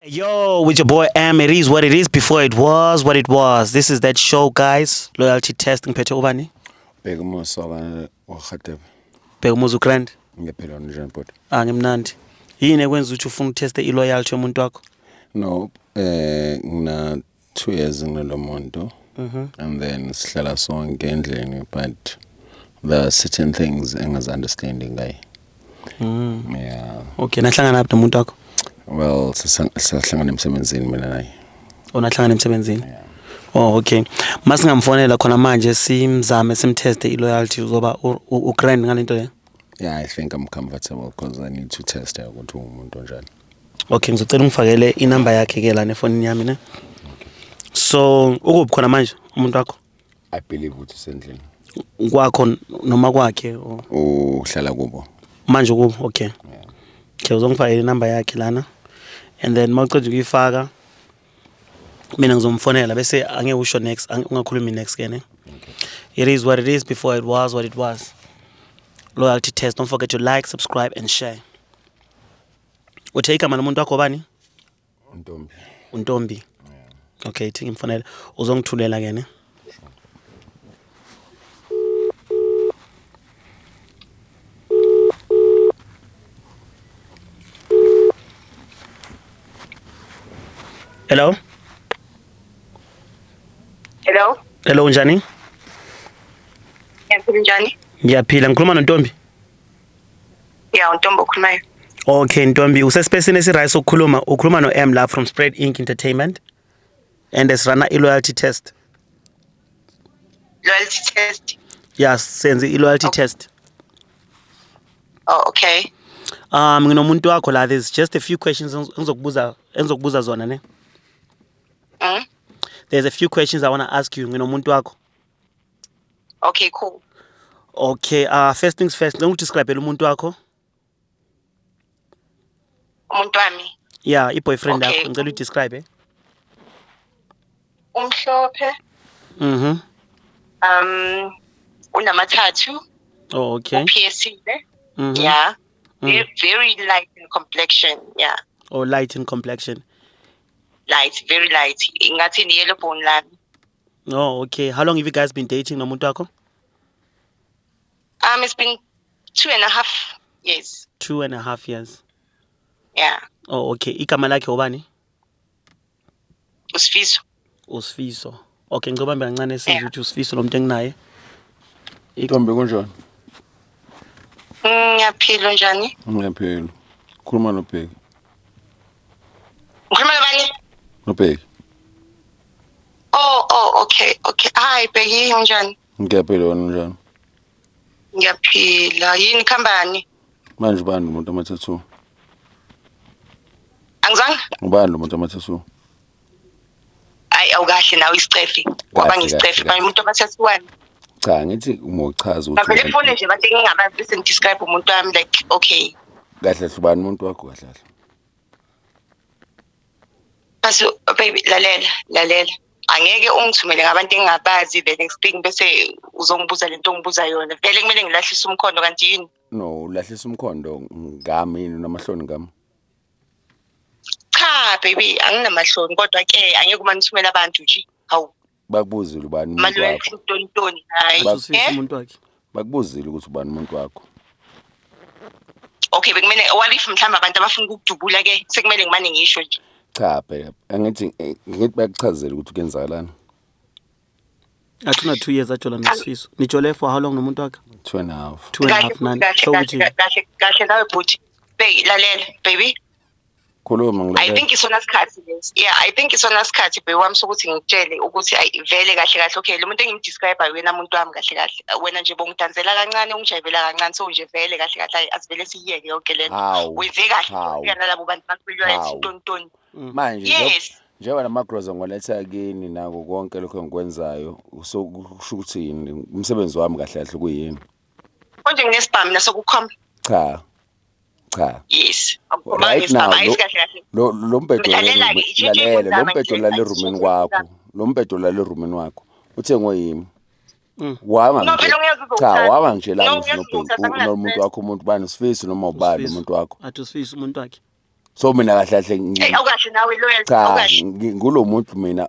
Yo, with your boy M, it is what it is before it was what it was. This is that show, guys. Loyalty test ngiphethe ubani? Bheka umusa wa- waRhadebe. Bheka umuzi uGrand. Ngiyaphila wena njani bhuti? Ah ngimnandi. Yini ekwenza ukuthi ufuna ukuteste iloyalty yomuntu wakho? No, eh ngina two years ngilo muntu and then sihlala sonke endlini but there are certain things engazi-understandi ngaye yeah Okay, nahlangana phi nomuntu wakho? well sisa- sisahlangana emsebenzini mina naye Onahlangana emsebenzini. Oh okay. Masingamfonela khona manje simzame simteste iloyalty uzoba u- u- ugrand ngalento le. yeah i think i'm comfortable because i need to test her ukuthi ungumuntu onjani okay ngizocela ungifakele inamba yakhe ke lana efonini yami ne so ukuphi khona manje umuntu wakho i believe ukuthi usendlini kwakho n- noma kwakhe or- uhlala kubo manje kubo okay Yeah. okay uzongifakela inamba yakhe lana and then uma uceda ukuyifaka mina ngizomfonela bese angeke usho next ange- ungakhulumi next ke ne it is what it is before it was what it was loyalty test don't forget to like subscribe and share Uthe igama lomuntu wakho bani? Ntombi. UNtombi. Yeah. Okay, thi ngimfonela. Uzongithulela ke ne. Hello? Hello? Hello, unjani? Ngiyaphila, unjani? Ngiyaphila, ngikhuluma noNtombi. ya untombi okhulumayo okay ntombi usesipesini esiright sokukhuluma ukhuluma no-m la from spread inc entertainment and esirana i-loyalty test loyalty test ya senze i-loyalty okay. test oh okay um nginomuntu wakho la there's just a few questions engizokubuza engizokubuza zona ne mm? there's a few questions i want to ask you nginomuntu wakho okay cool okay uh first things first ngicela udescribele umuntu wakho umuntu wami ya yeah, i-boyfriend yakho okay. ngicela udescribe eh? umhlophe mhm mm um unamathathu oh okay uphiyesile mm -hmm. yeah mm. very, very light in complexion yeah oh light in complexion light very light ingathi ni yellow bone lami Oh, okay. How long have you guys been dating nomuntu wakho? Um, it's been two and a half years. Two and a half years. Yeah. Oh, okay. Igama lakhe ubani? Usifiso. Usifiso. Okay, ngicela bambe kancane sizwe ukuthi usifiso lo muntu enginaye. Ntombi kunjani? Ngiyaphila njani? Ngiyaphila. Khuluma nobheki. Ngikhuluma nobani? Nobheki. Oh oh okay okay. Hi Bheki unjani? Ngiyaphila wena unjani? Ngiyaphila. Yini khambani? Manje ubani lo muntu amathathu? Angizange? Ubani lo muntu amathathu? Hayi awukahle nawe isicefe. Kwaba ngisicefe. Manje umuntu amathathu wani? Cha ngithi umochaza ukuthi. Ngavele fone nje bathi ngingabazi bese ngidescribe umuntu wami like okay. Kahle hlubani umuntu wakho kahle kahle. Bese baby lalela lalela angeke ungithumele ngabantu engingabazi the next thing bese uzongibuza lento ongibuza yona vele kumele ngilahlise umkhondo kanti yini no ulahlisa umkhondo ngami yini unamahloni ngami cha baby anginamahloni kodwa ke angeke uma ngithumela abantu nje hawu bakubuzile ubani umuntu Manuel wakho Chintoni hayi Bak- Usisi eh umuntu wakhe. bakubuzile ukuthi ubani umuntu wakho okay bekumele what if mhlawumbe abantu abafuna ukukudubula ke sekumele ngimane ngisho nje cha phela angithi eh, ngithi bakuchazele ukuthi kuyenzakalani Athuna 2 years ajola nosifiso. Nijole for how long nomuntu wakhe? two and a half Two and a half nani. So kahle ukuthi kahle kahle nawe bhuti Bey, lalela baby khuluma i ngilalela think isona sikhathi lesi yeah i think isona sikhathi bheki wami sokuthi ngikutshele ukuthi ayi vele kahle kahle okay lo muntu engimdescribe uyena muntu wami kahle kahle wena nje bongidansela kancane ungijayivela kancane so nje vele kahle kahle ayi asivele siyiyeke yonke le nto hawu wenze kahle Hawu. ufika nalabo bantu bakhulwayo Hawu. sitontoni manje nje- yes njengoba namagroza ngiwaletha kini nako konke lokho engikwenzayo so kusho ukuthi yini umsebenzi wami kahle kahle kuyini konje nginesibhamu nasokukhomba cha cha yes right now lo lo mbhedo lalela lo mbhedo lale roomini kwakho lo mbhedo lale roomini wakho uthengwe yimi mm. wanga nje cha wanga nje la nobhengu nomuntu wakho umuntu bani usifisi noma ubani umuntu wakho athi usifisi umuntu wakhe so mina kahle kahle ngi awukahle nawe loyal cha ngulo muntu mina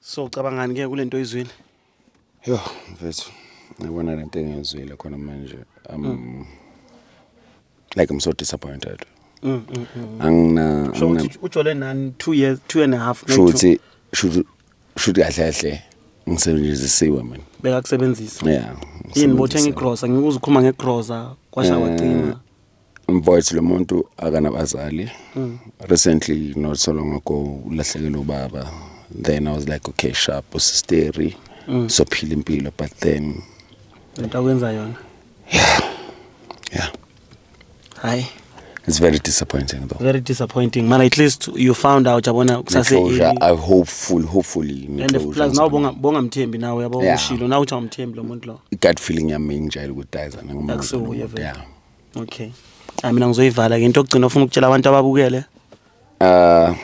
So ucabangani ke kulento oyizwile? Yo mfethu ngibona lento engizwile khona manje um mm. like I'm so disappointed. Mm, mm, mm. Angina so uthi ujole nani 2 years 2 and a half no. Shuthi shuthi shuthi kahle kahle ngisebenzisiwe mina. Beka kusebenzisa. Yeah. Yini bothenga igrosa ngikuzukhuma ngegrosa kwasha eh, wagcina. Mfowethu lo muntu akanabazali. Mm. Recently not so long ago ulahlekelwe ubaba. Then I was like okay sharp usisteri. Mm. So phila impilo but then lento akwenza yona. Yeah. Yeah. Hi. It's very disappointing though. Very disappointing. Man, at least you found out yabona kusase closure. I hopeful hopefully and if plus now bonga bonga mthembi nawe yabo ushilo now uthi awumthembi lo muntu lo. Gut feeling yami nje ukuthi dayizana ngomuntu. Yeah. okay hayi mina ngizoyivala ke into okugcina ufuna ukutshela abantu ababukele uh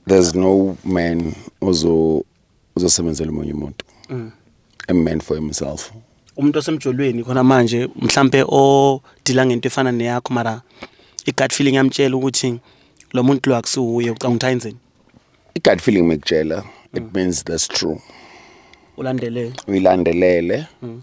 there's no man ozo uzosebenzela umunye umuntu mm. a man for himself umuntu osemjolweni khona manje mhlambe odila ngento efana neyakho mara igut feeling yamtshela ukuthi lo muntu lo akusiwuye ucanga ukuthi ayenzeni igut feeling mekutshela it mm. means that's true ulandelele uyilandelele mm.